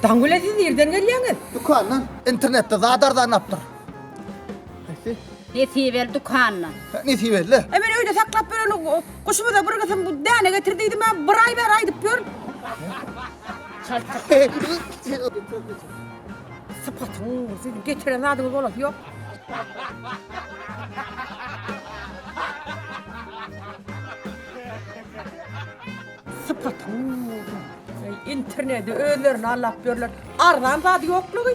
Dangüle siz nirden gelýäňiz? Dükandan. Internetde zat arzanlapdyr. Haýsy? Nesibeli dükanyna. Hä, Nesibeli. E men öýde saklap bereli guşumyza bir gysym bu däne getir diýdim ha, bir aý bäri aýdyp ýör. Sypatyň, siz getiren zadyňyz bolasy ýok. Sypatyň. Interneti özlerini allap ýörler. Arzan zady ýoklugy.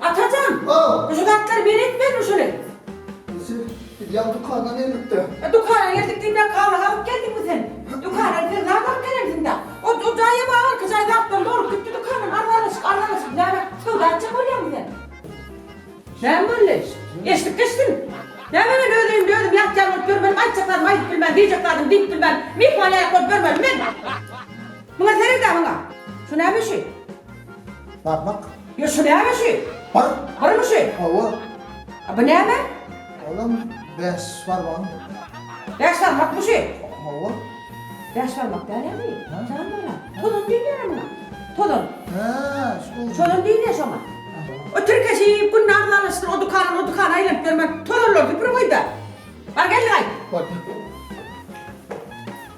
Atajan! O! Bu zatlary beri etmezmi şuny? Ýeser, biz ýa dükana geldik-de. E, dükana geldik diýip-ä kagaz alyp geldiňmi sen? Dükana biz sen zat alyp gelensiň-dä. O, o jaýa babarka jaý zatlar dolup gitdi dükandan, arzanlaşyk, arzanlaşyk. Näme, söwda etjek bolýaňmy sen? Näme boldy? Eşidip geçdim. Näme men öz öýümde özüm ýatýan bolup ýörmeli, aýtjak zadym aýdyp bilmän, diýjek zadym diýip bilmän, myhman ýaýak bolup ýörmelim men? Muňa sered-ä, muňa! Şu näme şu? Barmak. Ýo, şu näme şu? Bir. Birmi şu? Hawa. A bu näme? Olam bäş barmagyň. Bäş barmakmy şu? Hawa. Bäş barmak dälemi? Ha? Jan balam. Tozan diýilýär-ä muňa. Tozan. Ha, şu. Tozan diýilýär şoňa. O tirkeşi günde arzalaşdyr, o dükandan o dükana aýlanyp ýörme. Tozanlary süpürip goý-da. Bar geldi gaýt. Goýdum.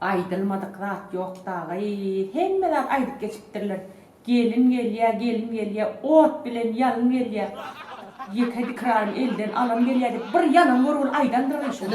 Aýdylmadyk zat ýok dagly hemme zat aýdyp geçipdirler gelin gelýä gelin gelýä ot bilen ýalyn gelýä ýeke dikrarym elden alyn gelýä diýip bir ýalan görgül aýdandyr şuny.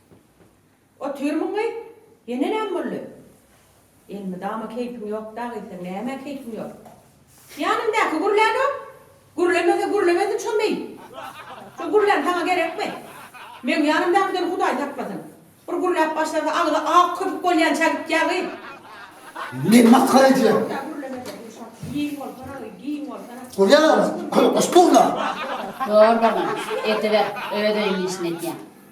Otyrmyňmy? Ýene näme boldy? Elmydama keýpiň ýok dagyýsem, nämä keýpiň ýok? Ýanymdaky gürlänok. Gürlemese gürlemesin şo meý. Şo gürlän saňa gerekmi? Meň ýanymdakydan Hudaý saklasyn. Bir gürläp başlasa agzy ak köpük bolýança gitýär gyz. Men masgara edýärin. Ýa gürlemese bu şa giň bolsana gyz, giň bolsana. Gürlän agzy köpük bolsa gürlä. Zorbalyk ediber özüniň işini edýän.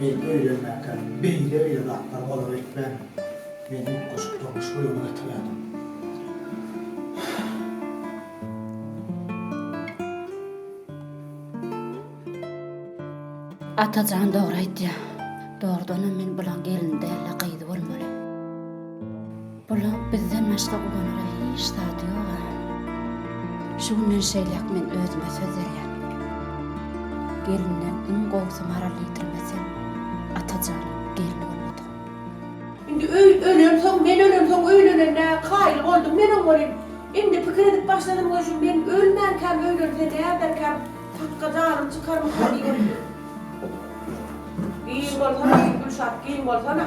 Men öýlenmäkä beýle-beýle zatlar olara etmärin. Men utgaşyk durmuş uýalyk etmeldim. Atajan dogry aýtýar. Dogrudanam men bulaň gelini däl-de gyzy bolmaly. Bulag bizden başga ulanara hiç zady ýog-a. Şu günden şeýläk men özüme söz berýän. Gelinden iň gowusy maral ýitirmeseň, Atajan, gelin bolmadyk. Indi öý ölensoň, men ölensoň öýlenenine kaýyl boldum men oň welin, indi pikir edip başladym, goý, şu men ölmänkäm öýlense näderkäm, sakga janym çykarmyka diýip. Giň bolsana, diýip, Gülşat, giň bolsana.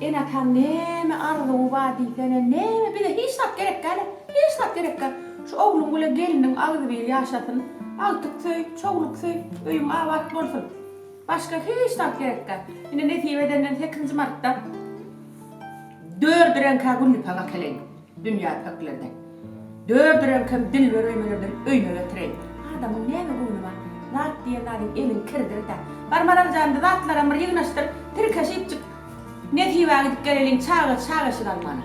Ene-ataň näme arzuwy bar diýsene, näme, bize hiç zat gerekgä-le, hiç zat gerekgä. Şu ogluň bile gelniň agzybir ýaşasyn, agtyk söý, çowluk söý, öýüň abat bolsun. Başga hiç zat gerekgä. Ine, nesip edenden sekizinji martda dördi reňkä güllipak akeleýin. Dünýä pöklendi. Dördi reňkem dilber öýmelerden öýme getireý. Adamyň näme göwni bar? Zat diýen zadyň eliň kirdir-dä. Bar Maraljanly zatlaram bir ýygnaşdyr. Tirkeşipjik Nesibä gidip geleliň çaga çaga eşik almana.